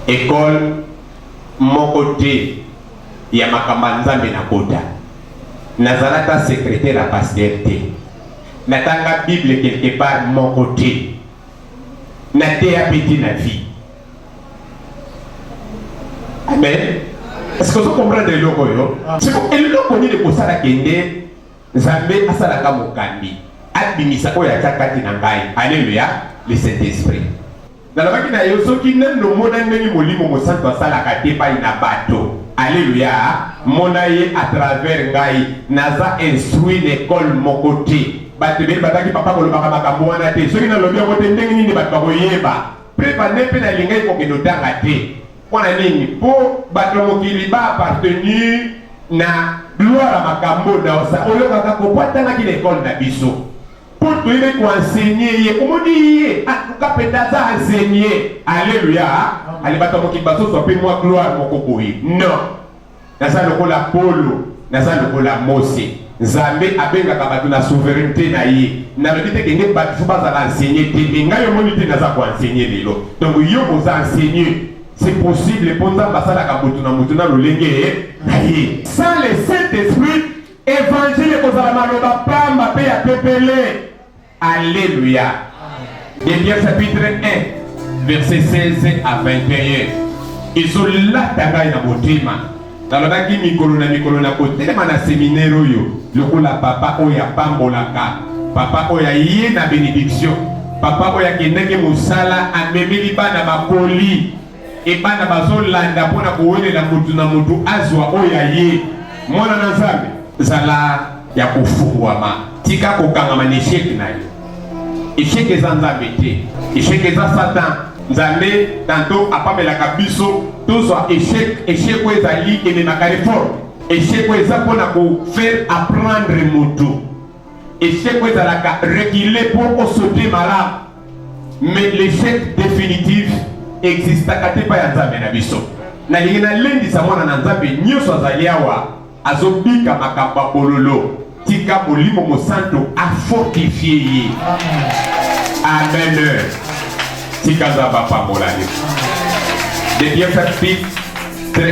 Ecole moko te ya makambo ya Nzambe na bota. Nazala ata secretaire ya pasteur te. Natanga Bible quelque part moko te. Nateya pe te na vie. Amen. Est-ce que vous comprenez eloko yo? Siko eloko nini kosala kende Nzambe asalaka mokambi abimisa oyo atya kati na ngai. Aleluya, le Saint Esprit. Nalobaki na yo soki nani omona ndenge Molimo Mosantu asalaka te pai na bato. Aleluya, mona ye à travers ngai. Naza instruit na ecole moko te. Bato ebele bazaki papa kolobaka makambo wana te. Soki nalobi yango te, ndenge nini bato bakoyeba? Preuve en est mpe nalingaki kokende otanga te. Mpo na nini? Mpo bato ya mokili ba appartenir na gloire ya makambo naosa oyokaka kobwatanaki na ekole na biso mpo toyebi koensegne ye omoni ye atuka mpenza aza ensegne aleluya ale bato ya mokili bazozwa mpe mwa gloire moko boye non Naza lokola Polo, naza lokola Mose. Nzambe abengaka bato na souveraineté na ye. Nalobi te kende bato fo bazala enseigné te, mais ngai omoni te naza ko enseigner lelo. Donc yo oza enseigné. C'est possible mpo Nzambe asalaka moto na moto na lolenge na ye. Sans le Saint-Esprit, évangile ekozala maloba pamba mpe ya pepele. Alléluia. Debia chapitre 1 verset 16 à 21 ezolata ngai na motema nalobaki mikolo na mikolo na kotelema na seminere oyo lokola papa oyo apambolaka papa oyo aye na benediction papa oyo akendaki mosala amemeli bana bakoli Et bana bazo landa pona kowelela mutu na mutu azwa oyo aye. Mwana na Nzambe, zala ya kofungwama, tika kokangama na echec na yo. Echec eza Nzambe te, echec eza Satan. Nzambe tanto apamelaka biso tozwa echec. Echec oyo ezali ememaka reforme. Echec oyo eza pona ko faire apprendre mutu. Echec oyo ezalaka reculer po osote malamu. Mais l'échec définitif existaka te epai ya Nzambe na biso. Nalingi nalendisa mwana na Nzambe nyonso azali awa azobika makambo ya bololo, tika Molimo Mosanto afortifie ye. Amen. Tika Nzambe apambola yo. Des bienfaits, très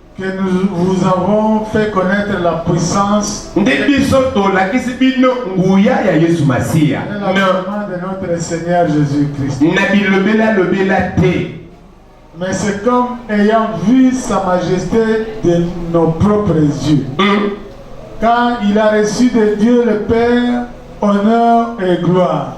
que nous vous avons fait connaître la puissance nde biso tolakisi bino nguya ya yesu masiya de notre seigneur jésus christ na bilobela lobela te mais c'est comme ayant vu sa majesté de nos propres yeux mm. quand il a reçu de dieu le père honneur et gloire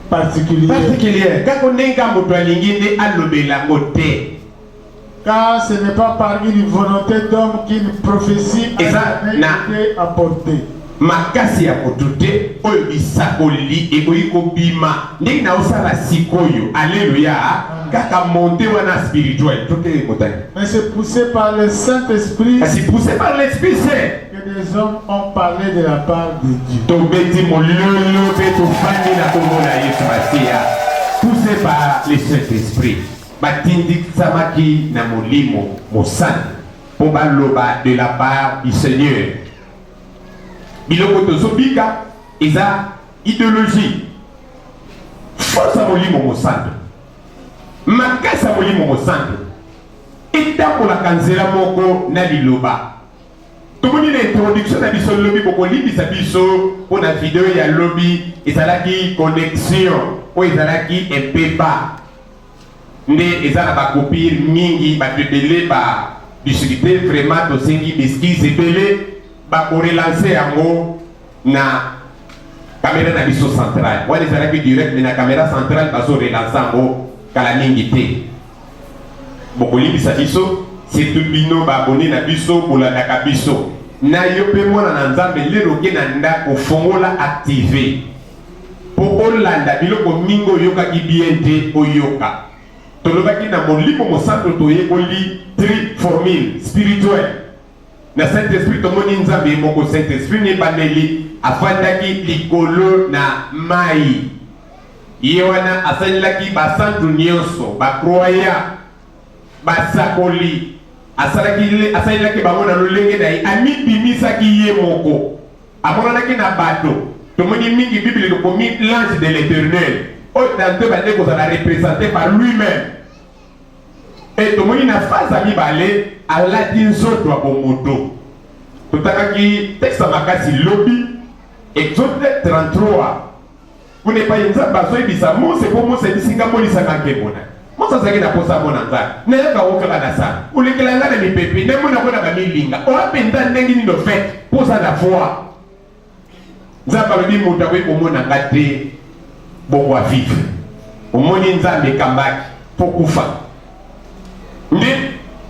particulier kako ndenge moto alingi nde alobela yango te car ce n'est pas par une volonté d'homme qu'une prophétie a été apportée. makasi ya moto te oyo bisakoleli ekoki kobima ndenge naosala sikoyo aleluya kaka monte wana spirituel toke motani mais c'est poussé par le saint esprit c'est poussé par l'esprit saint Que des hommes ont parlé de la part de Dieu. Tobeti mololo pe tofandi na kombo na Yesu Masiya. Poussé par le Saint-Esprit. Batindikisamaki na molimo mosantu mpo baloba de la part du Seigneur. Biloko tozobika eza ideologie fosa molimo mosantu makasi ya molimo mosantu etambolaka nzela moko na liloba Tomoni na introduction na biso lobi bokolimbisa biso mpo na video ya lobi ezalaki connexion oyo ezalaki empeba nde eza na bakopir mingi bato ebele ba discuter vraiment tosengi beskise ebele bakorelanse yango na kamera na biso centrale wana ezalaki direct me na kamera centrale bazorelansa yango kala mingi te bokolimbisa biso surtout bino baabone na biso bolandaka biso na yo mpe mwana na nzambe lelo oke na ndako fongola active mpo olanda biloko mingi oyokaki bien te oyoka tolobaki na molimo mosanto toyekoli tri formule spirituel Na Saint Esprit tomoni Nzambe ye moko Saint Esprit na ebandeli afandaki likolo na mayi. Ye wana asalelaki basantu nyonso, ba croyants, basakoli, asalaki asalelaki bango na lolenge na ye, amibimisaki ye moko, amonanaki na bato. Tomoni mingi Bible lokomi l'ange de l'Eternel, oyo tantôt ebandaki kozala represente par lui-meme. Mpe tomoni na fraze ya mibale alati nzoto ya bomoto. Totakaki tekste ya makasi lobi, Exode 33 kuna epai Nzambe azoyebisa Mose mpo Mose ayebisi ngai molisa na nkembo na Mose azalaki na mposa amona ngai nayaka o kaka na sana olekela ngai na mipepe namona ngo na bamilinga oya mpenza ndenge nini ofete mpo oza na voi nzambe alobi moto akoki komona nga te bongo avive omoni nzambe ekambaki mpo kufa nde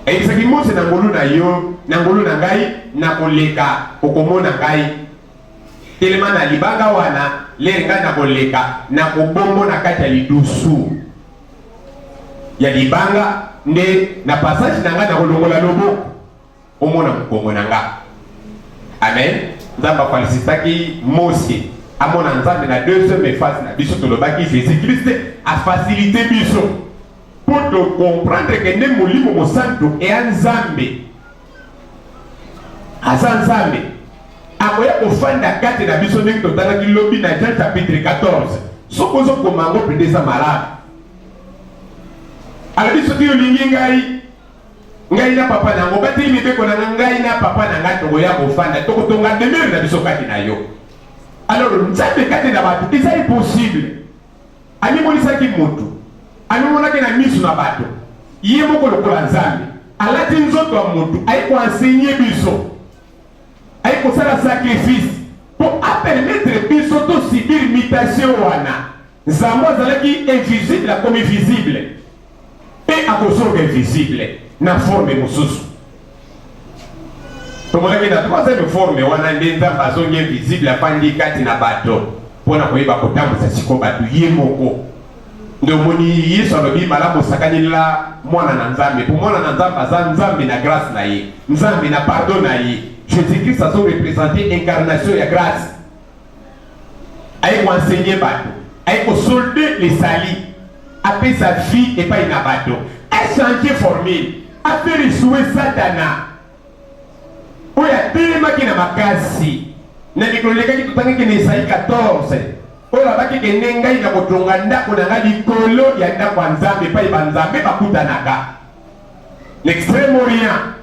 eyebisaki mose na ngolu na yo na ngolu na ngai nakoleka okomona ngai telema na libanga wana lere ngai nakoleka nakobongo na kati ya lidusu ya libanga nde na passage na ngai nakolongola loboko omona mokongo na nga amen nzambe afalisisaki mose amona nzambe na deuxième phase na biso tolobaki jésus christ afasilite biso mpo tocomprendre ke nde molimo mosantu eya nzambe aza nzambe akoya kofanda kati na biso ndenge totalaki lobi na jean chapitre 14 soki ozokoma yango mpenza eza malamu alobi soki olingi ngai ngai na papa na yango bateli mibeko na ngai ngai na papa na ngai tokoya kofanda tokotonga demere na biso kati na yo alors nzambe kati na bato eza impossible amimonisaki motu amimonaki na miso na bato ye moko lokola nzambe alati nzoto ya motu aye koensegne biso aye kosala sacrifice mpo apermetre biso tosibir mutation wana Nzambe azalaki invisible, akomi visible mpe akozonga invisible na forme mosusu. Tomonaki na troisième forme wana nde Nzambe azongi invisible, afandi kati na bato mpo na koyeba kotambwisa siko bato ye moko. Nde omoni Yesu alobi malamu osakanela mwana na Nzambe, mpo mwana na Nzambe aza Nzambe na grâce na ye, Nzambe na pardon na ye. Jésus-Christ azo représenter incarnation ya grâce aye ko enseigner bato aye ko solde les salis apesa vie epai na bato achange formule afere esue satana oyo atelemaki na makasi na mikolo elekaki totangaki na esai 14 oyo babaki kende ngai na kotonga ndako na ngai likolo ya ndako ya nzambe epai banzambe bakutanaka L'extrême Orient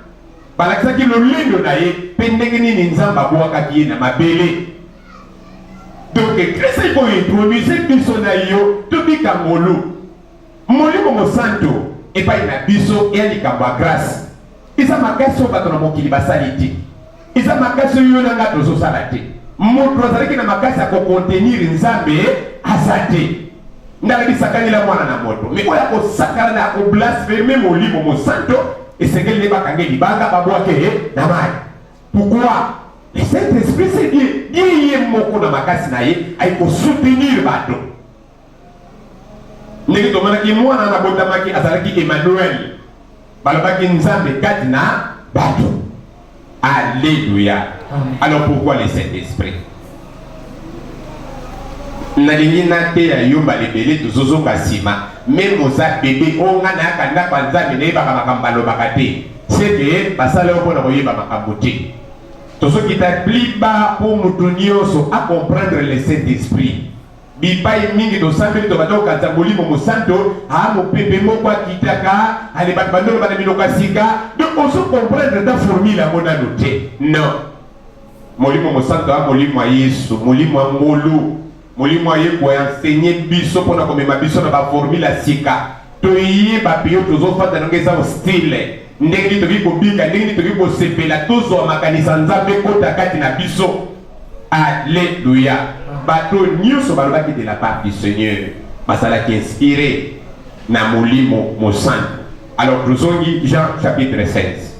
balakisaki lolendo na ye mpe ndenge nini Nzambe abwakaki ye na mabele. Donc Kristo ekointroduise biso na yo tobika ngolu Molimo Mosanto epai na biso ya likambo ya grâce eza makasi oyo bato na mokili basali te. Eza makasi oyo yo na ngai tozosala te. Moto azalaki na makasi ya kokontenir Nzambe aza te. Ndalaki sakanela mwana na moto. Me oyo akosakana na akoblasfeme Molimo Mosanto esengeli nde bakange libanga babwake ye na mai. Pourquoi? Le Saint-Esprit c'est Dieu. Dieu ye moko na makasi na ye aye kosoutenir bato. ndenge tomonaki mwana na botamaki azalaki emmanuel balobaki nzambe kati na bato alleluya alors pourquoi le saint esprit nalingi nateya yo mbala ebele tozozonga nsima meme oza bebe oyo ngai nayaka ndako ya nzambe nayebaka makambo balobaka te seke basala yo mpo na koyeba makambo te tozokita pliba mpo moto nyonso acomprendre le saint esprit Bipai mingi tosambeli tobanda kokanisa Molimo Mosanto a mopepe moko akitaka ale bato bandoloba na minoko ya sika. Donc ozo comprendre ta formule yango nano te. Non. Molimo Mosanto a molimo ya Yesu, molimo ya ngolu, molimo aye ko enseigner biso mpo na komema biso na ba formule ya sika. Toyeba mpe yo tozofanda nango eza hostile. Ndenge nini tokoki kobika, ndenge nini tokoki kosepela, tozwa makanisi ya Nzambe ekota kati na biso. Alleluia. Bato nyonso balobaki de la part du Seigneur. Bazalaki inspire na Molimo Mosantu. Alors tozongi Jean chapitre 16.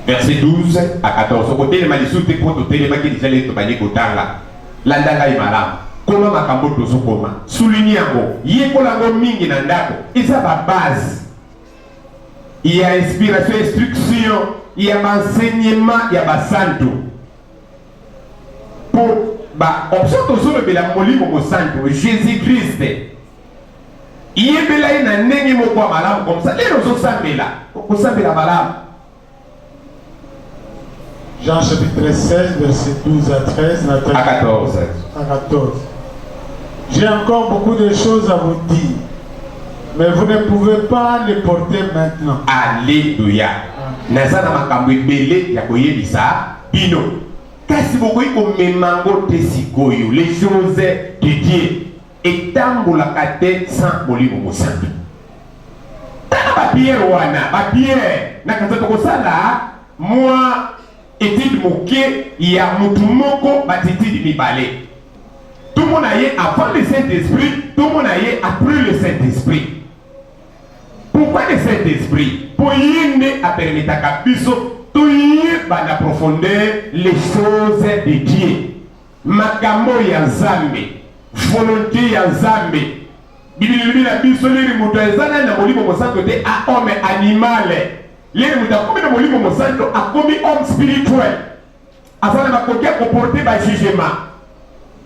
Verset 12 à 14. Okotelema lisusu te mpo totelemaki deja leli tobandi kotanga. Landa ngai malamu. Koma makambo tozokoma. Souligne yango. Yekola yango mingi na ndako. Eza ba base ya inspiration instruction ya baenseignement ya basantu mpo baoption tozolobela molimo mosantu jésus christ yebela ye na ndenge moko ya malamu komsa lelo ozosambela okosambela malamu Jean chapitre 16, verset 12 à 13, à 14. À 14. J'ai encore beaucoup de choses à vous dire, mais vous ne pouvez pas les porter maintenant. Alléluia. naza na makambo ebele ya koyebisa bino kasi bokoki komema yango te sikoyo les choses de dieu Etambolaka te sans Molimo Mosantu. Tala ba pierre wana, ba pierre na kanisa tokosala mwa etide moke ya mutu moko batitidi mibale tomona ye avant le saint esprit tomona ye après le saint esprit pourquoi le saint esprit mpo ye nde apermetaka biso toyeba na profondeur les choses de dieu Makambo ya Nzambe, volonte ya Nzambe. Biblia elobi na biso leli moto eza nani na Molimo Mosanto te a homme animale. Leli moto akomi na Molimo Mosanto akomi homme spirituel. Aza na makoki ya koporte ba jugement.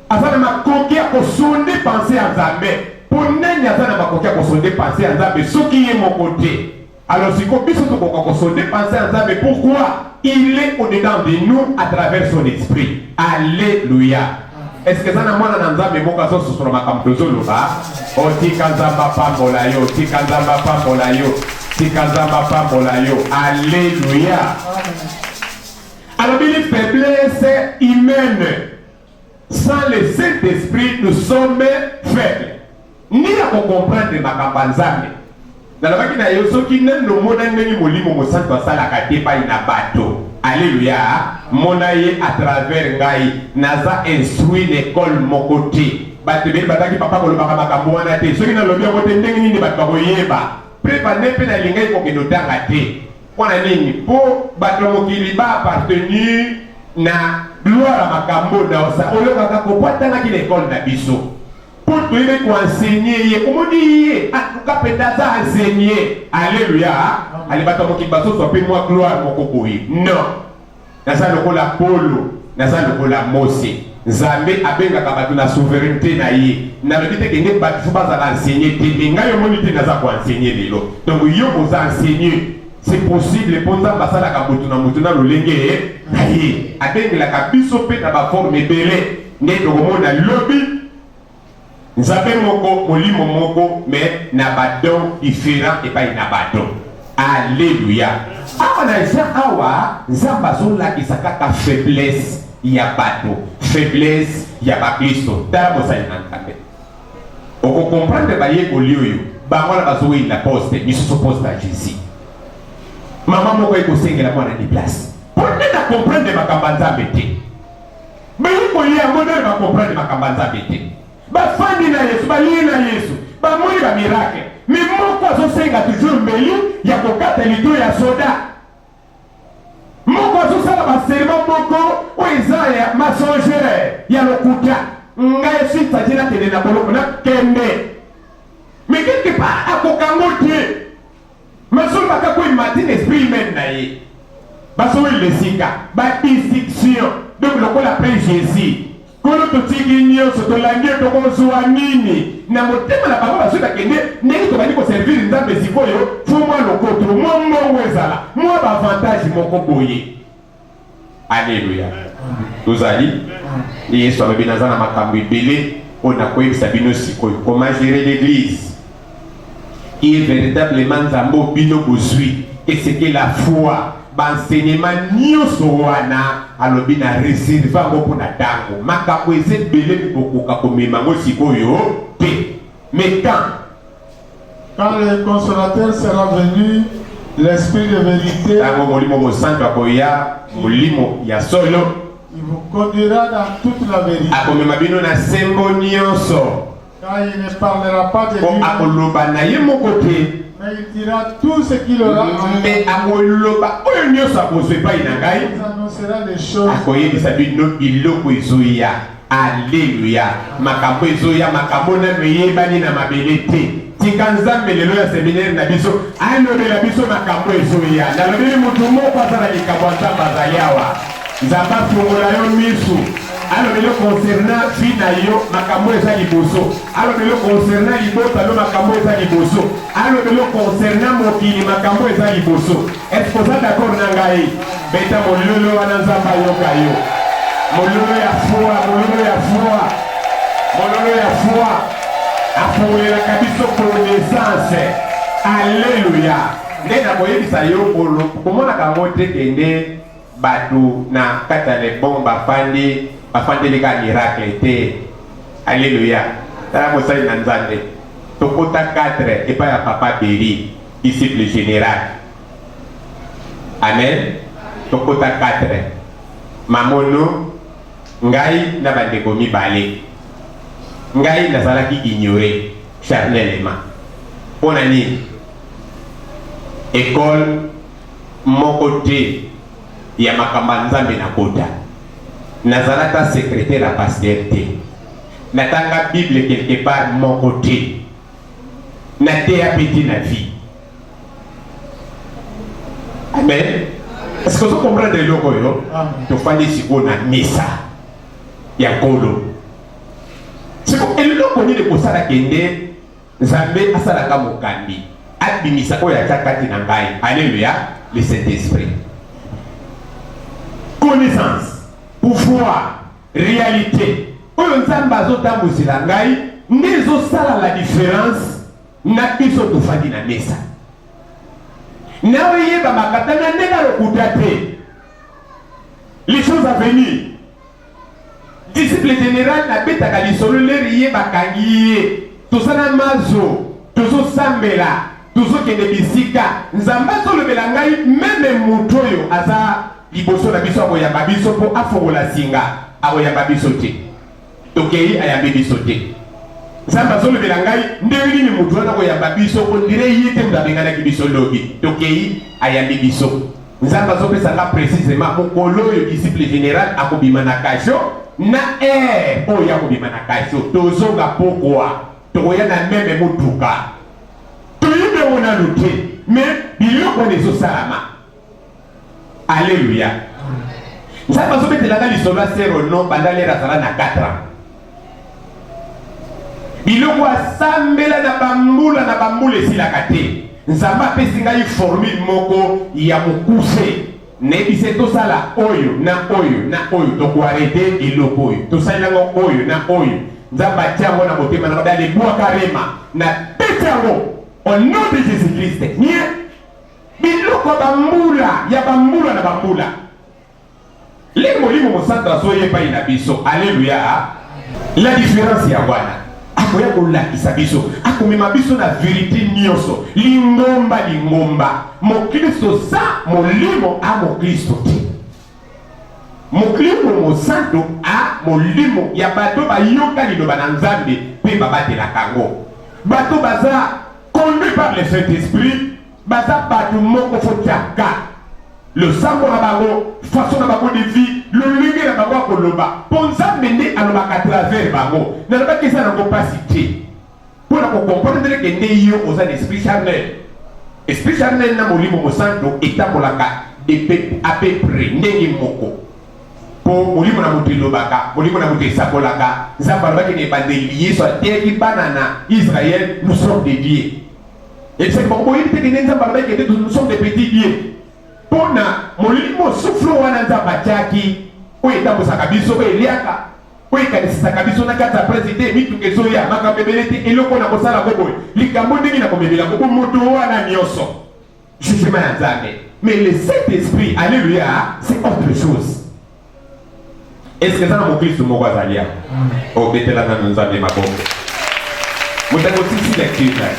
Aza na makoki ya kosonde pense ya Nzambe. Mpo nani aza na makoki ya kosonde pense ya Nzambe soki ye moko te? Alors siko biso tokoka ko se depenser à Nzambe pourquoi il est au-dedans de nous à travers son esprit. Alléluia. Est-ce que ça n'a mwana na Nzambe moko azo sosola makambo tozoloba? Oh tika Nzambe apambola yo, tika Nzambe apambola yo, tika Nzambe apambola yo. Alléluia. Alors il est faiblesse humaine. Sans le saint esprit nous sommes faibles nini ya ko comprendre makambo ya Nzambe nalobaki na yo soki nanu omona ndenge molimo mosantu asalaka te epai na bato aleluya mona ye à travers ngai naza instruit na ekole moko te bato ebele bazalaki papa kolobaka makambo wana te soki nalobi yango te ndenge nini bato bakoyeba mpe bande mpe nalingaki kokende otanga te Mpo na nini? Mpo bato ya mokili ba appartenir na gloire ya makambo naosa oyokaka kobwatanaki na ekole na biso mpo toyebi koensegne ye omoni ye atuka mpenza aza ensegne aleluya ale bato ya mokili bazozwa mpe mwa gloire moko boye non Naza lokola Polo, naza lokola Mose. Nzambe abengaka bato na souveraineté na ye. Nalobi te kende bato fo bazala enseigner te, mais ngai omoni te naza ko enseigner lelo. Donc yo oza enseigneur. C'est possible mpo Nzambe asalaka moto na moto na lolenge na ye. Abengelaka biso mpe na ba forme ebele nde tokomona lobi Nzambe moko, molimo moko, mais na ba dons differents epai na bato. Alleluia! Awa na Jean awa, Nzambe azolakisa kaka faiblesse ya bato, faiblesse ya baklisto. Tala bozali na Nzambe. Oko comprendre bayekoli oyo, bango wana bazoweyina poste, misusu poste ya Jesus. Mama moko ekosengela mwana ni place. Mpo nde na comprendre makambo ya Nzambe te. Bayekoli yango nde bakomprendre makambo ya Nzambe te. Bafandi na Yesu, balie na Yesu, bamoni ba miracle, me moko azosenga toujours mbeli ya kokata lito ya soda moko azosala baserema moko oyo eza ya masongere ya lokuta ngai sitati nakende na boloko nakende me quelque part akokango te Masomba ka ko imagine esprit humaine na ye. Baso we lesika ba distinction donc lokola pe Jésus kolo totiki nyonso tolandi yo tokozwa nini na motema na bango basoki bakende ndenge tobandi koservire nzambe sikoyo fo mwa lokoto mwa mbongo ezala mwa baavantage moko boye Alleluia. Tozali. Nde Yesu alobi naza na makambo ebele oyo nakoyebisa bino sikoyo. Comment gérer l'église qui est véritablement Nzambe oyo bino bozwi. Et ce que la foi bansenyema nyonso wana alobi na reserve yango mpo na ntango makambo eza ebele bokoka komema yango sikoyo te metan Quand le consolateur sera venu, l'esprit de vérité. Tango molimo mosantu akoya, molimo ya solo. Il vous conduira dans toute la vérité. Akomema bino na sembo nyonso. Car il ne parlera pas de lui. Akoloba na ye moko te. Mais il dira tout ce qu'il aura. Mais akoloba oyo nyonso akozwa epai na ngai. Il annoncera les choses. Akoyebisa bino biloko ezoya. Alleluia makambo ezoya makambo nanu eyebani na mabele te tika nzambe lelo ya seminaire na biso alobela biso makambo ezoya nalobeli moto moko aza na likambo ya nzambe azali awa nzambe afungola yo misu alobeli konserna vi na yo makambo eza liboso alobeli konserna libota no makambo eza liboso alobeli konserna mokili makambo eza liboso Est-ce que oza d'accord na ngai? Beta mololo wana Nzambe ayoka yo. Mololo ya fua, mololo ya fua. Mololo ya fua. Afungolelaka biso connaissance. Alléluia. Nde nakoyebisa yo bolo, komonaka yango te kende bato na kati ya lebon bafandi bafandeli ka miracle te. Alléluia. Tala mosali na Nzambe. Tokota 4 epai ya Papa Beri. Disciple general. Amen. Tokota 4. Mamono, ngai na bandeko mibale. Ngai nazalaki ignore charnellement. Mpo na nini? Ekole moko te ya makambo ya Nzambe nakota. Nazala ata secretaire ya pasteur te. Natanga Bible quelque part moko te. na teya pe te na vie amen est-ce que ozo comprendre eloko oyo tofandi sikoyo na misa ya nkolo siko eloko nini kosala kende nzambe asalaka mokambi abimisa oyo atya kati na ngai alleluya le saint esprit connaissance pouvoir realite oyo nzambe azotambwisela ngai nde ezosala la difference na biso tofandi na mesa na oyeba makatanga ndenge alokuta te les choses à venir disciple général nabetaka lisolo leri ye bakangi ye toza na mazo tozosambela tozokende bisika nzambe azolobela ngai meme moto oyo aza liboso na biso akoyamba biso mpo afongola singa akoyamba biso te tokei ayambi biso te nzambe azolobela ngai ndenge nini moto wana koyamba biso ondire ye te moto abenganaki biso lobi tokei ayambi biso nzambe azopesa nga precisement mokolo oyo disciple général akobima na kasho na aire oyo akobima na kasho tozonga pokwa tokoya na meme motuka toyebi yango nanu te me biloko wana ezosalama aleluya nzambe azobetelaka lisolo ya sero no banda lere azala na 4 ans biloko asambela na bambula na bambula esilaka te nzambe apesi ngai formule moko ya mokuse Nayebise tosala oyo na oyo na oyo tokoarete eloko oyo tosali yango oyo na oyo nzambe atia yango na motema na ngai alebwaka rema na pete yango au nom de jésus christ nie biloko ya bambula ya bambula na bambula lenge molimo mosanto azoya epai na biso aleluya la différence ya wana akoya kolakisa biso akomema biso na verite nyonso lingomba lingomba mokristo za molimo a mokristo te moklisto mosanto a molimo ya bato bayoka liloba na nzambe mpe babatelaka yango bato baza conduit par le saint esprit Baza batu moko faut tiaka losambo na bango façon na bango de vie lolenge na bango ya koloba mpo nzambe nde alobaka travers bango nalobaki eza nango mpasi te mpo na kokomprendre ke nde yo oza na esprit charnel esprit charnel na molimo mosanto etambolaka à peu près ndenge moko mpo molimo na moto elobaka molimo na moto esakolaka nzambe alobaki na ebandeli yesu ateyaki bana na israel nous sommes de dieu Ezali bango boyebi te kende Nzambe alobaki kende nous sommes des petits dieux. Mpo na molimo suflo wana Nzambe atiaki oyo etambusaka biso oyo eliaka oyo ekanisisaka biso na kati ya presi te mituka ezoya makambo ebele te eloko na kosala ko boye likambo ndenge na komemela koko moto wana nyonso jugement ya nzambe mais le saint esprit alleluia c'est autre chose eske eza na mokristu moko azali ya obetela nanu nzambe maboko moto akotisi lecture na ye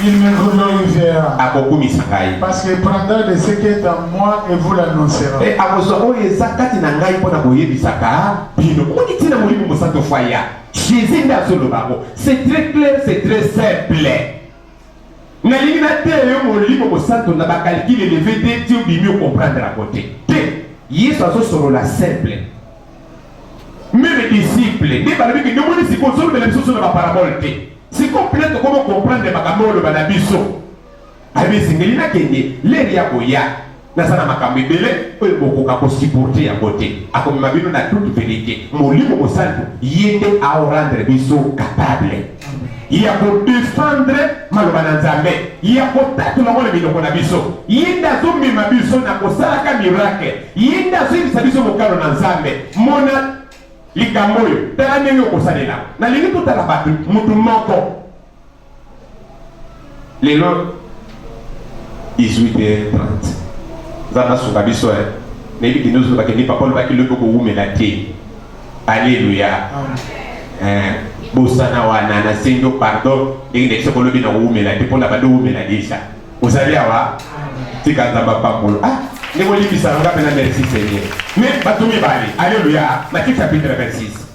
Il me glorifiera. akokumisa ngai Parce qu'il prendra de ce qui est à moi et vous l'annoncera. mpe akozwa oyo eza kati na ngai mpo na koyebisaka bino omoni ntina molimo mosanto faya jésus nde azoloba yango c'est très clair c'est très simple Nalingi nateya yo Molimo Mosanto na ba calcul eleve te ti obimi o comprendre yango te. Te! Yesu azosolola simple. Meme disciple nde balobi ke ndomoni sikoyo ozolobela biso so na ba parabole te. Sikoyo mpe tokomo comprendre makambo oloba na biso. Ayebi esengeli nakende, l'heure ya koya. naza na makambo ebele oyo bokoka kosiporte yango te akomema bino na toute verite molimo mosantu ye nde aorendre biso kapable ya kodefendre maloba na nzambe ya kotatola yango na minoko na biso ye nde azomema biso na kosalaka miracle ye nde azoyebisa biso mokano na nzambe mona likambo oyo tala ndenge okosalela nalingi totala bato moto moko lelo 18h30 nzambe asunga biso eh. nayebi kende ozo bakende papa olobaki lobi okowumela te aleluya eh, bosana wana nasengi yo pardon ndenge ndeki soki olobi nakowumela te mpona bando owumela deja ozali awa tika nzambe apambolo ah, ndenge olimbisa nga mpena merci seigneur mais bato mibale aleluya matisa petre 26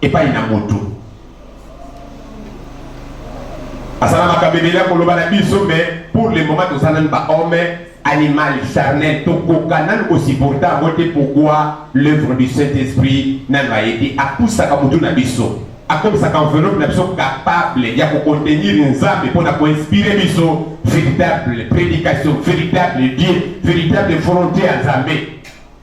epai na moto asala makambo ebele ya koloba na biso mais pour le moment toza nanu bahomme animal charnel tokoka nanu kosupporte yango te pourkoi l'œuvre du saint esprit nanu aye te apusaka motu na biso akomisaka enveloppe na biso capable ya kokontenir nzambe mpo na koinspire biso véritable prédication véritable dieu véritable volonté ya nzambe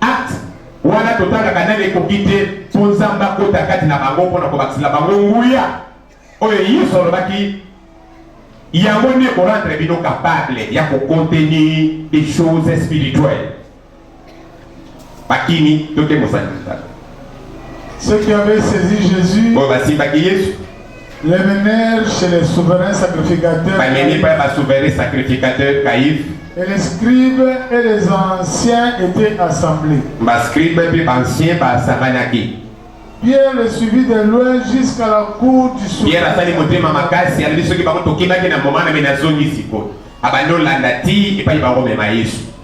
Acte wana totalaka nani ekoki te mpo Nzambe akota kati na bango mpo na kobakisela bango nguya oyo Yesu alobaki yango nde ekorendre bino kapable ya kokonteni des choses spirituelles bakimi to te mosali ceux qui avaient saisi Jésus oyo basimbaki Yesu Les meneurs chez les souverains sacrificateurs. Banene pa ba souverains sacrificateurs caïphes. Et les scribes et les anciens étaient assemblés. Ba scribes et ba anciens ba asanganaki. Pierre le suivit de loin jusqu'à la cour du souverain. Pierre asali motema makasi alobi soki bango tokimaki na moma na me nazongi sikoyo. Abandi olanda ti epai bango mema Yesu.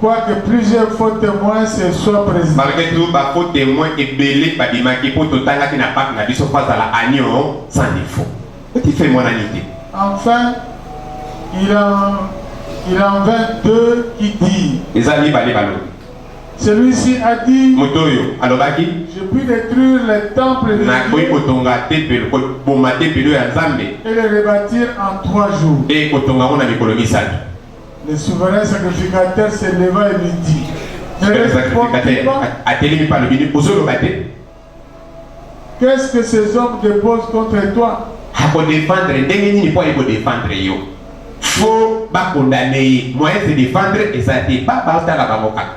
Quoique plusieurs faux temoins se soient presentés. Malgré tout, ba faux temoins ebele babimaki mpo totangaki na bac na biso mpo azala agneau sans défaut. Petit fait emonani te. Enfin, il en, il en vint deux qui dirent. Eza mibale balobi. Celui-ci a dit, Moto oyo alobaki, je puis détruire le temple de nakoki Dieu kotonga tempelo, koboma tempelo ya Nzambe et le rebâtir en trois jours. mpe kotonga yango na mikolo misato. Le souverain sacrificateur se leva et lui dit, ne réponds-tu pas atelemi pano bini ozoloba te Qu'est-ce que ces hommes déposent contre toi akodefendre ndenge nini mpo aye kodefendre yo fo bakondane ye moyen se defendre eza te baba otala bango kaka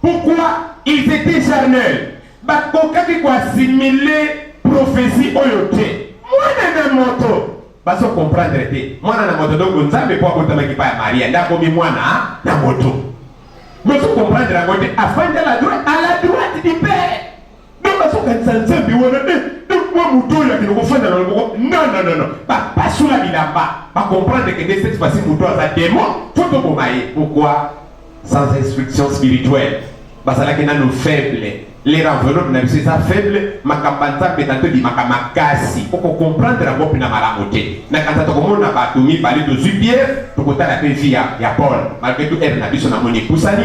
Pourquoi ils étaient charnels? Bakokaki ko assimiler prophetie oyo te. Mwana na moto bazo comprendre te. Mwana na moto donc Nzambe po abotamaki pa ya Maria nde akomi mwana na moto. Bozo comprendre yango te? Afandi à la droite, à la droite du Père. donc azokanisa nzambe wana e donc mwa moto oyo akende kofanda na loboko nananana bapasola bilamba bacomprendre kende cette fois-ci moto aza demon fo toboma ye pourquoi sans instruction spirituelle bazalaki nano faible les enveloppe na biso eza faible makambo ya nzambe na tobimaka makasi okocomprendre yango mpena malamu te na kanisa tokomona bato mibale tozwi biere tokotala mpe vi ya paul malgre to ere na biso namoni epusani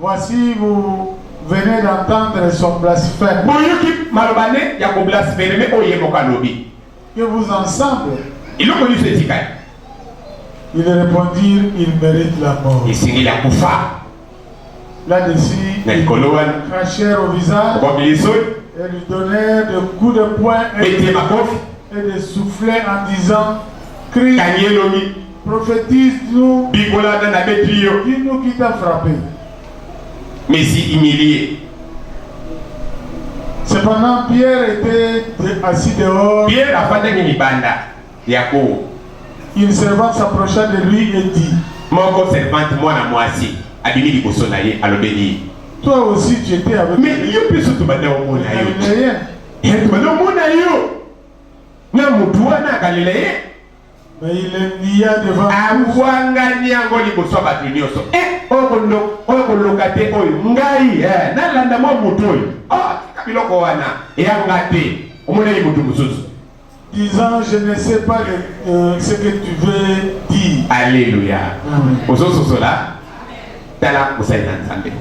Voici vous venez d'entendre son blasphème. Boyoki maloba ne ya ko blasphermer oyo ye moko alobi. Que vous ensemble. Eloko nyonso etikali. Ils répondirent, il mérite la mort. Esengeli akufa. Là-dessus, na likolo wana crachèrent au visage, okomi lisoi, et lui donnèrent de coups de poing et, et de souffler en disant, crie, Prophétise nous. Bigola na na beti yo. Dis nous qui t'a frappé. Mais si humilié. Cependant, Pierre était assis dehors. Pierre a fait une banda. Yako. Une servante s'approcha de lui et dit Mon servante, moi, moi aussi, abimi liboso na ye, alobeli. Toi aussi, tu étais avec Mais yo mpe so tobanda omona yo tobanda omona yo na motu wana akalelaye abwangani yango liboso ya bato nyonso eh, oyo koloka te oyo ngai eh, nalanda mwa moto oyo oh, tika biloko wana eyanga te omoneli moto mosusu disant je ne sais pas euh, ce que tu veux dire alleluya ozososola tala mosali na nzambe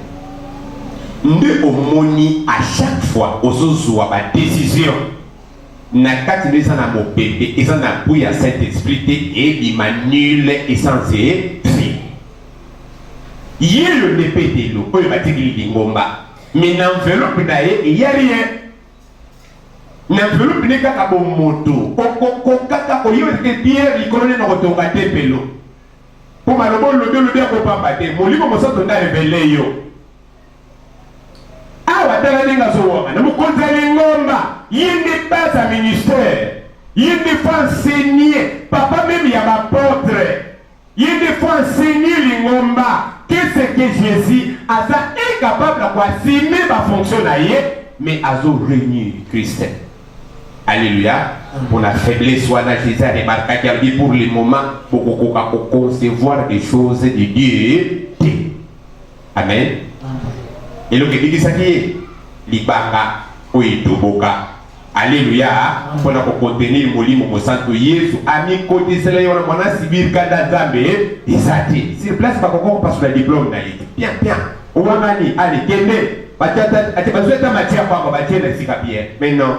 nde omoni à chaque fois ozozwa badécision na kati nde eza na mopepe eza na gout ya saint esprit te ebima nul essence efi yelo nde petelo oyo batikili lingomba me na enveloppe na ye eya rien na enveloppe nde kaka bomoto okokokaka koyeba te pierre likolo nde na kotonga tempelo mpo maloba olobi olobi akopamba te molimo mosanto nde arevele yo awa tala ndenge azowangana mokonzi ya lingomba ye nde base ya ministère ye nde fo enseigner papa meme ya bapotre ye nde fo enseigner lingomba qu'est-ce que jésus aza incapable ya koassume bafonction na ye mais azo réunir christ alleluya mpo na faiblesse wana jésus aremarkaki alobi pour le moment bokokoka koconcevoir des choses de dieu Amen. Eloko ebikisaki ye libanga oyo etoboka. Aleluya! Mpo na kokontenir Molimo Mosantu, Yesu amikotisela ye wana mwana asibir kanda Nzambe eza te. Sur place bakoki kopasula diplome na ye te. Pia pia, owangani, ale kende. Bazwi ata matière pamba batie na esika bien. Mais non,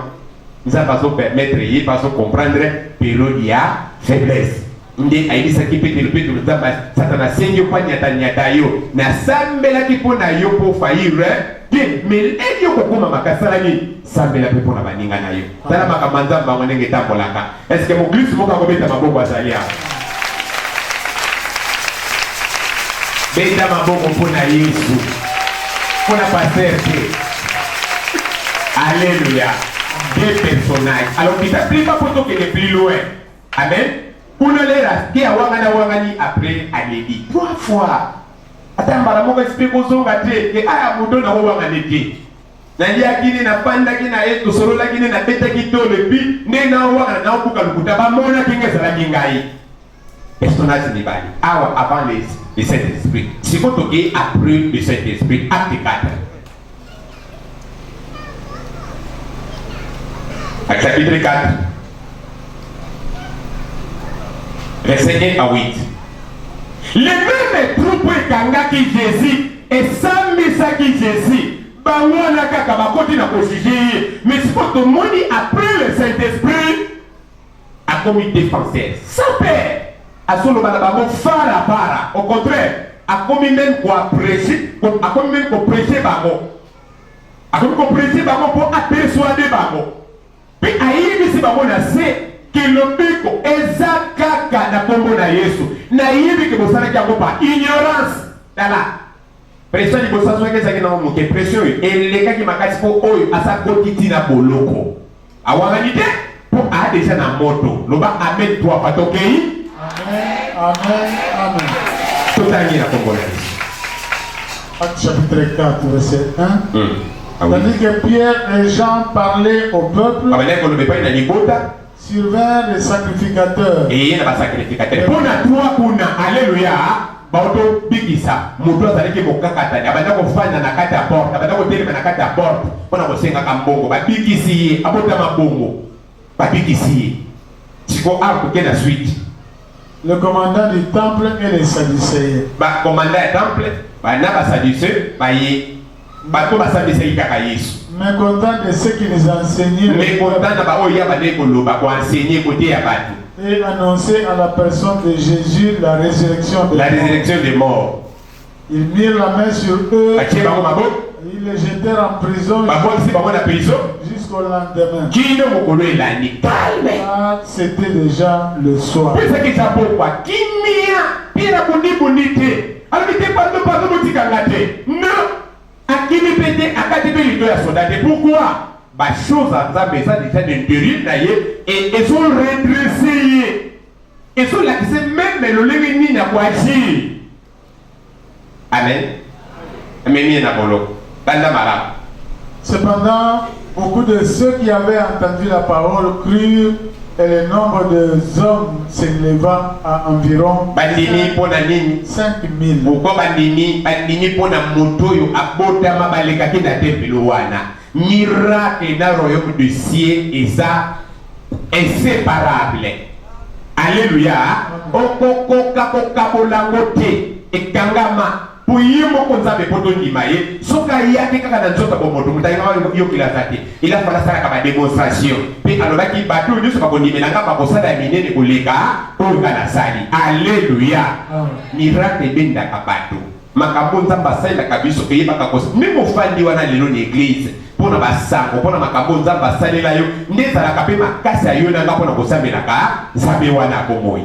Nzambe azo permettre ye mpe azo comprendre periode ya faiblesse. Nde ayebisaki Petelo, Petelo, Nzambe, Satana asengi yo mpo anyatanyata yo. Nasambelaki mpo na yo mpo ofayire te, meleki yo kokoma makasi. Sala nini? Sambela mpe mpo na baninga na yo. Tala makambo ya Nzambe bango ndenge etambolaka. Eske moklisto moko akobeta maboko azali awa? Beta maboko mpo na Yesu, mpo na paster te. Aleluya! Deux personnages. Alors, kita plipa mpo tokende plus loin. Amen. Kuna lera te awangana wangani après aleli. Trois fois. Ata mbala moko esipe kozonga te ke aya moto na owangani te. naliaki nde nafandaki na ye tosololaki nde nabetaki tolo epi nde nawana naobuka lokuta bamonaki nga ezalaki ngai personnage mibale awa avant le saint esprit siko tokei après le saint esprit acte 4 A chapitre 4, verset 1 à 8. Les mêmes troupes ekangaki Jésus, esambisaki Jésus, bango wana kaka bakoti na kojije ye, mais sikoyo tomoni après le Saint-Esprit akomi defenseur sans peur azoloba na bango fara fara au contraire akomi meme koaprese akomi meme koprese bango akomi koprese bango mpo apersuade bango mpe ayebisi bango na se ke lobiko eza kaka na nkombo na yesu nayebi ke bosalaki yango pa ignorance tala Pression liboso azwaki ezalaki nango moke, pression oyo elekaki makasi mpo oyo asa koti ti na boloko awangani te mpo aa deja na moto. Loba amen trois fois tokei. Totangi na kombo na Yesu. Acte chapitre 4 verset 1. Hmm. Ah oui. Tandis que Pierre et Jean parlaient au peuple. Abandaki koloba epai na libota. Surveillant les sacrificateurs. Eye na ba sacrificateurs. Mpo na trois kuna, alleluia, baoto bikisa moto azalaki mokakatani, abanda kofanda na kati ya porte, abanda kotelema na kati ya porte mpo na kosengaka mbongo, babikisi ye, abotama bongo, babikisi ye. Siko awa koke na suite. Le commandant du temple et les sadducéens. Ba commandant ya temple ba na ba sadducéens baye. Bato basambisaki kaka Yesu. Mecontent de ceux qui les enseignaient. Mecontent na baoyo ya bandaki koloba, ko enseigner, koteya bato. Et annoncer à la personne de Jésus la résurrection des La morts. résurrection des morts. Ils mirent la main sur eux, Batie bango maboko, ils les jetèrent en prison babwakisi bango na prison jusqu'au lendemain. kino mokolo elandi. Calme. Car c'était déjà le soir. Pesa kisa pokwa kimia mpe na bundibuni te. Alobi te pardon pardon botika nga te. Non. Akimi pe te akati pe lido ya soda te. Pourquoi? Ba choses ya Nzambe eza déjà de deril na ye et ezo redresser ye. Ezo lakisa meme lolenge nini ya ko agir. Amen. Amemi ye na boloko. Banda malamu. Cependant, beaucoup de ceux qui avaient entendu la parole crurent et le nombre de hommes s'éleva à environ bandimi mpo na nini 5000 pourkua bandimi bandimi mpo na moto oyo abotama balekaki na tempelo wana miracle na royaume du ciel eza inséparable alleluya okokoka kokabolango te ekangama mpo ye moko nzambe mpo tondima ye soki aye ake kaka na nzoto bomoto moto ayebaka yokeli aza te elafo nasalaka bademonstration mpe alobaki bato oyo nyonso bakondimela nga bakosala ya minene koleka oyo nga nasali aleluya miracle ebendaka bato makambo nzambe asalelaka biso eyebaka kos meme ofandi wana lelo na eglize mpo na basango mpo na makambo nzambe asalela yo nde ezalaka mpe makasi ya yo na nga mpo na kosambelaka nzambe wana ya bomoi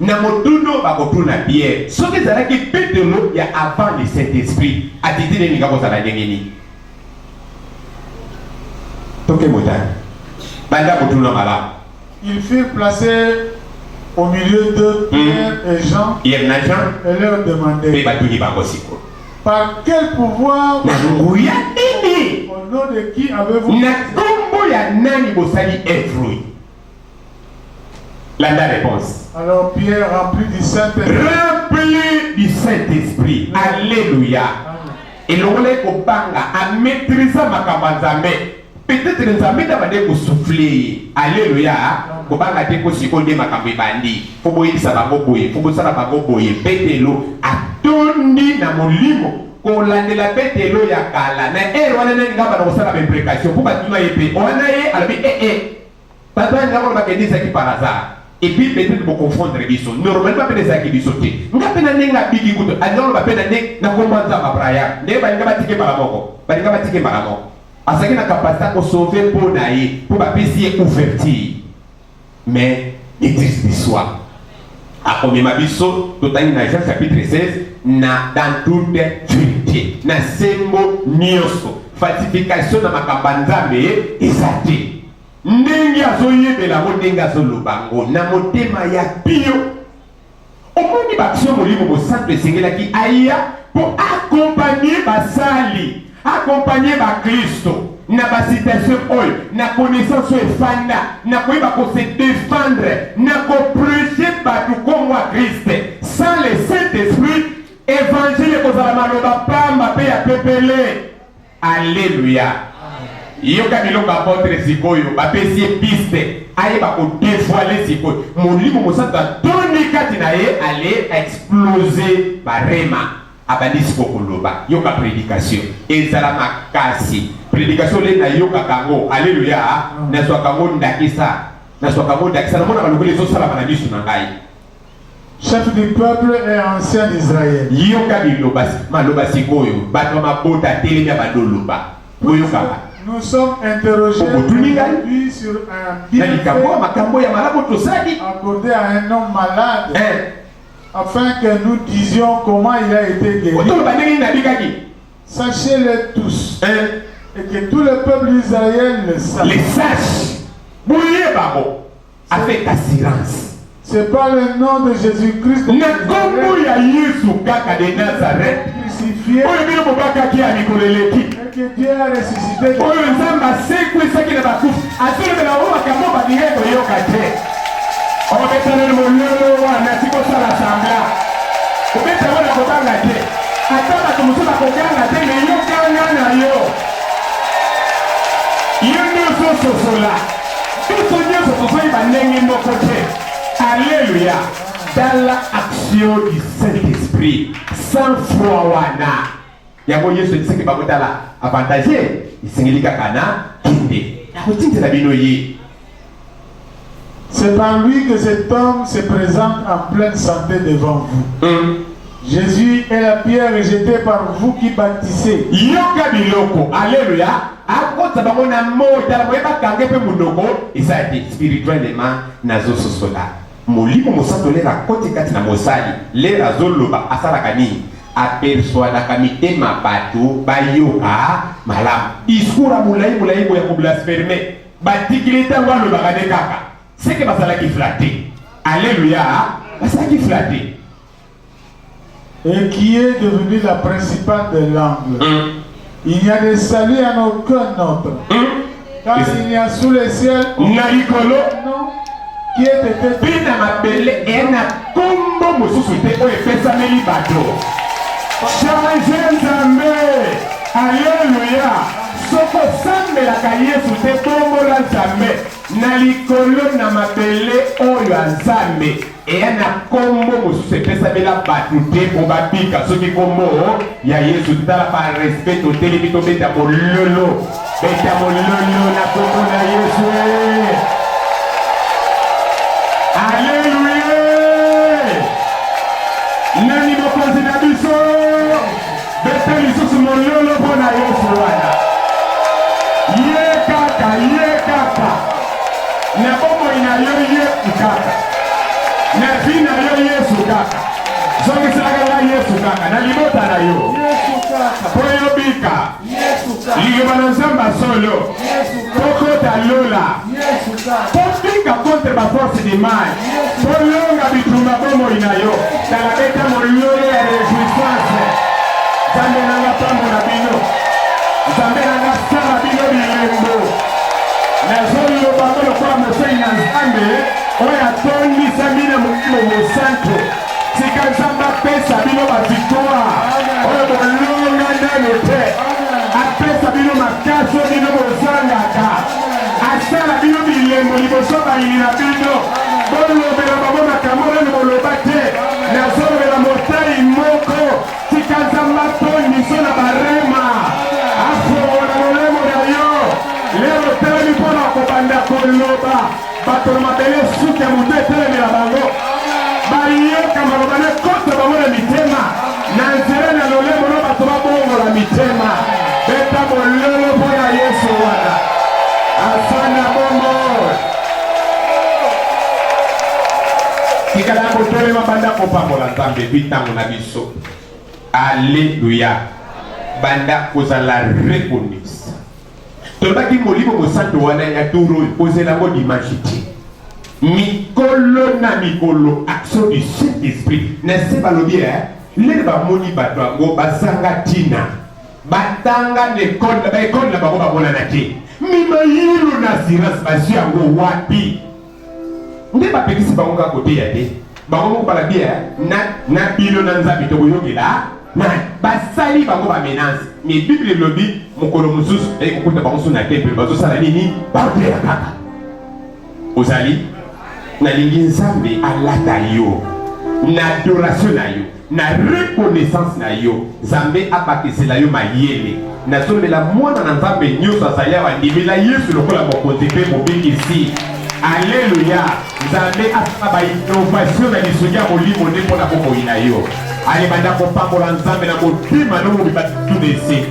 Na motuna oyo bakotuna Piere, soki ezalaki Petelo ya avant le Saint-Esprit, attitude elinga kozala ndenge nini? Toke motane. Banda kotuna malamu. Ils furent placés au milieu de Pierre mm. et Jean. Pierre na Jean. Et leur demandaient. Mpe batuni bango sikoyo. Par quel pouvoir? Na nguya nini? Au nom de qui avez-vous? Na nkombo ya nani bosali œuvre oyo? Landa réponse. Alors Pierre rempli du Saint-Esprit. Rempli du Saint-Esprit. Alléluia. elongola ye kobanga amaîtrisa makambo ya nzambe peut-être nzambe nde abande kosufle ye alleluya kobanga te mpo sikoyo nde makambo ebandi mpo boyebisa bango boye mpo bosala bango boye petelo atondi na molimo kolandela petelo ya kala na ere wana nani ngamba na kosala baimplication mpo batuna ye mpe wana ye alobi ee eh, eh, Bato ya ngambo bakende ezalaki par hasard. Et puis peut-être bo confondre biso. Normalement pe ezalaki biso te. Nga pe na ndenge abiki kutu. Alingolo ba pe na ndenge na komba nzamba Brian. Ndenge balinga batike mbala moko. Balinga batike mbala moko. Azalaki na capacité ya ko sauver po na ye. Po bapesi ye ouverture. Mais, maîtrise de soi. Akomema biso totangi na Jean chapitre 16 na dans toute vérité na sembo nyonso falsification na makambo ya Nzambe eza te ndenge azoyebela yango ndenge azoloba yango na motema ya pio omoni baksio molimo mosantu esengelaki aya mpo akompanie basali Accompagner baklisto na bacitation oyo na connaissance oyo efanda na koyeba kose defendre na koprege bato nkombo ya kriste sans le saint esprit evangile ekozala maloba pamba mpe ya pepele alleluya yoka biloko apotre sikoyo bapesi ye piste ayeba kodevoile sikoyo molimo mosantu atoni kati na ye ale explose barema Abandi siko koloba, yoka predication ezala makasi. Predication le nayokaka yango, aleluya, nazwaka yango ndakisa, nazwaka yango ndakisa, namonaka lokola ezosalama na misu na ngai. Chef du peuple et ancien d'Israël. Yoka biloba maloba sikoyo bato ya mabota telemi ya badoloba boyokaka Nous sommes interrogés Obotuni ngai? aujourd'hui sur un na likambo ya bienfait makambo ya malamu tosali accordé à un homme malade. Eh, Afin que nous disions comment il a été guéri. Otoloba ndenge nini abikaki. Sachez-le tous. Hein? Et que tout le peuple d'Israël le sache. Les sages. Boye bango. Avec assurance. C'est pas le nom de Jésus-Christ. Na kombo ya Yesu kaka de Nazareth. Crucifié. Oyo bino bobakaki ya mikolo eleki. oyo nzambe asekwisaki na bakufi azolobela bango makambo balingai koyoka te obetaleli mololo wana tikosala sambla obeta yango na kobanga te ata bato mosusu bakoganga te meyokanga na yo yo nde ozososola biso nyonso tozoyeba ndenge moko te aleluya tala action du saint esprit sans foi wana Yango Yesu ayebisaki bango, Tala, avantage esengeli kaka na kende, nakotindela bino ye. C'est par lui que cet homme se présente en pleine santé devant vous. Mm. Jésus est la pierre jetée par vous qui bâtissez. Yoka biloko, alléluia. akotisa bango na moi tala boye bakange mpe monoko eza te spirituellement nazososola Molimo mosanto lere akoti kati na mosali lere azo loba asalaka nini a persuadaka mitema batu ba yoka malamu discours ya mulayi mulayi boye ya ko blasferme ba tikili tango alobaka nde kaka seke bazalaki flatte alleluia bazalaki flatte et qui est devenue la principale de l'angle. Hum. Il n'y a de salut à aucun autre. Hum. Car il n'y a sous le ciel Narikolo qui est été mpe na mabele eye na nkombo mosusu te oyo epesameli bato change nzambe aleluya soko osambelaka yesu te bongola nzambe na likolo na mabele oyo azambe eya na nkombo mosusu epesamela bato te mpo babika soki nkombo ya yesu tala parespect totelemi tobeta mololo beta mololo na nkombo na yesu aleluya nani mokonzi na biso Bete lisusu mololo mpo na Yesu wana. Ye kaka, ye kaka. Na bomoi na yo Yesu kaka. Na vie na yo Yesu kaka. Zongiselaka nga Yesu kaka na libota na yo. Mpo yo bika. Liloba na Nzambe solo. tokota lola totika contre baforce de mal tolonga bitumba bomoi na yo tala beta molole ya rejouissance nzambe nanga pambola bino nzambe nanga sala bino bilembo nazoloba molokola mosei na nzambe oyo atondisami na molimo mosanto Tika Nzambe apesa bino ba victoire oyo bolonga nano te, apesa bino makasi oyo bino bozangaka, asala bino bilembo liboso bayini na bino. Bolobela bango makambo oyo boloba te, nazolobela motai moko. Tika Nzambe atondisa na barema, afongola lolemo na yo lelo, otelemi mpo na kobanda koloba. Bato na mabele suki ya moto etelemela bango, bayoka maloba na kota bango na mitema, na nzela na lolemo na bato babongola mitema. Beta mololo mpo na Yesu wana afanda bongo. Tikala kotelema banda kopambola Nzambe epi ntango na biso. Aleluya! Banda kozala reconnu tolobaki molimo mosanto wana ya tour oyo kozela yango dimanche te mikolo na mikolo action du saint esprit na se balobi e eh, lele bamoni bato yango bazanga ntina batanga na ekole na baekole na bango bamonana te mimayilo na assurance bazwi yango wapi nde bapekisi bango kaka koteya te bango moko balabiya na, na bino na nzambe tokoyokela na basali bango bamenance me bible elobi mokolo mosusu eye kokuta bango so na tempele bazosala nini baoteya kaka ozali nalingi nzambe alata yo na adoration na yo Na reconnaissance na yo nzambe abakisela yo mayele nazolela mwana na nzambe nyoso azali awa ndimela yesu lokola mokonzi mpe mobikisi aleluya nzambe asala bainnovation na lisungi ya molimo nde mpo na bomoi na yo alebanda kopambola nzambe na motema nomobi batutuna ese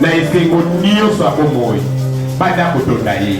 na esengo nyonso ya bomoi banda kotonda ye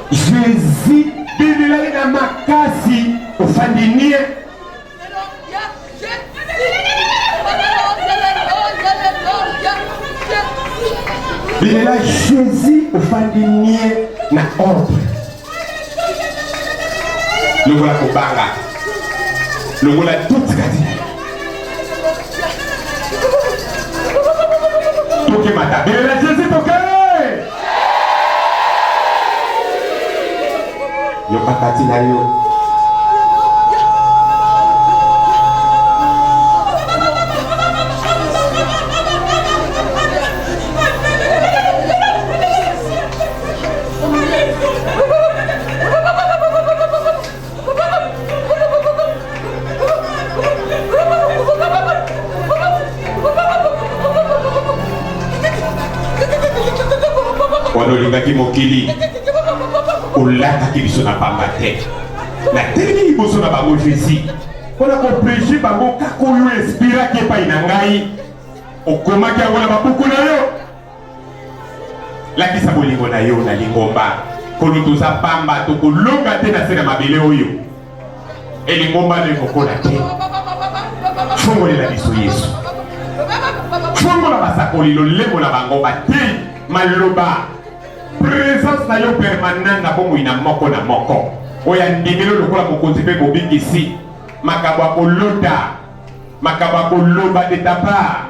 Jésus bimilaki na makasi ofandi nie bimela Jésus ofandi nie na ordre lokola kobanga lokola tutikati Tokimata. Bela Jésus toke. Yoka kati na yo. wana olingaki mokili olataki biso na pamba te natelemi liboso na bango jésus mpo na koprege bango kaka oyo espiraki epai na ngai okomaki yango na babuku na yo lakisa bolingo na yo na lingomba kolo toza pamba tokolonga te na se na mabele oyo elingomba no ekokola te fongolela biso yesu fongola basakoli lolemo na bango bateyi maloba presence na yo permanent na bomoi na moko na moko oyo andimeli lokola mokonzi mpe bobikisi makambo ya kolota makambo ya koloba de ta part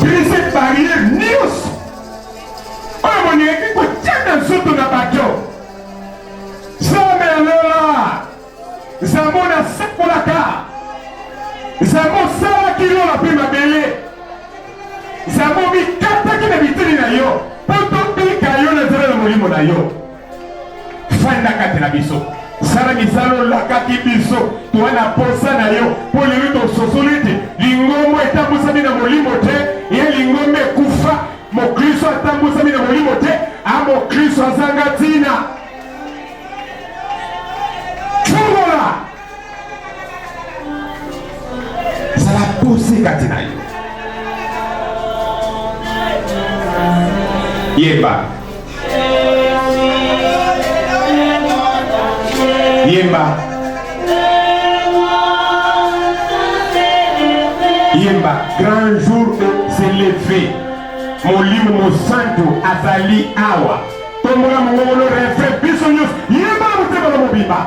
brise barrière nyonso oyo bolingaki kotya na nzoto na bato zambe ya lola zambo nasakolaka zambo osalaki lola mpe mabele zambo mikataki na biteni na yo mpo tobika yo na nzela na molimo na yo fanda kati na biso sala misala olakaki biso toa na posa na yo mpo lelo tososoli ete lingombo etambwisami na molimo te ye lingombo ekufa mokristo atambwisami na molimo te a mokristo azanga ntina zala dosi kati na yo yemba yemba yemba grand jour se lever molimo mosantu azali awa tombola mongongo no refrain biso nyonso yemba na motema na mobimba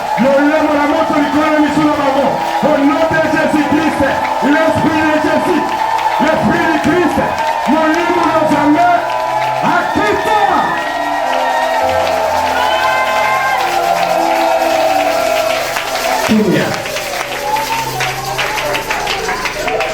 Lolemo na moto likolo na misu na bango. Au nom de Jésus Christ, l'esprit de Jésus, l'esprit de Christ, molimo na Nzambe akita. Kimia.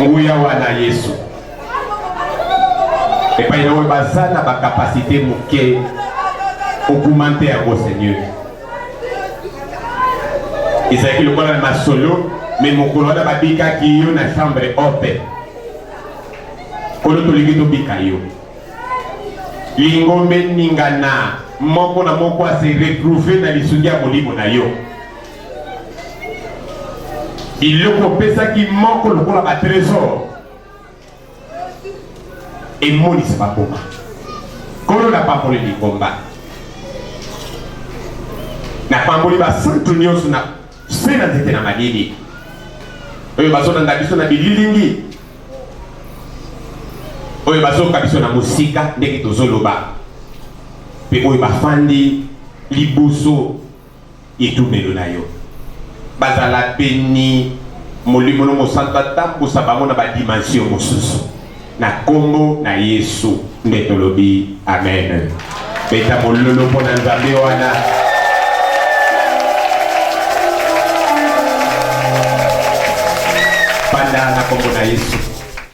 nguya wana yesu epai na oyo baza na bakapasite moke okumante yango seigneur ezalaki lokola na masolo me mokolo wana babikaki yo na chambre ope kolo tolingi tobika yo Lingombe ningana moko na moko ase retrouve na lisungi ya molimo na yo. Biloko opesaki moko lokola ba tresor emonisa bakoma kolo na pamboli lingomba na pamboli basantu nyonso na Se na nzete na malili oyo bazolanda biso na bililingi oyo bazoka biso na mosika ndenge tozoloba mpe oyo bafandi liboso etumelo na yo bazala beni molimo no mosantu atambusa bango na badimension mosusu Na kombo na yesu nde tolobi amen beta mololo mpo na nzambe wana. Banda na kombo na Yesu.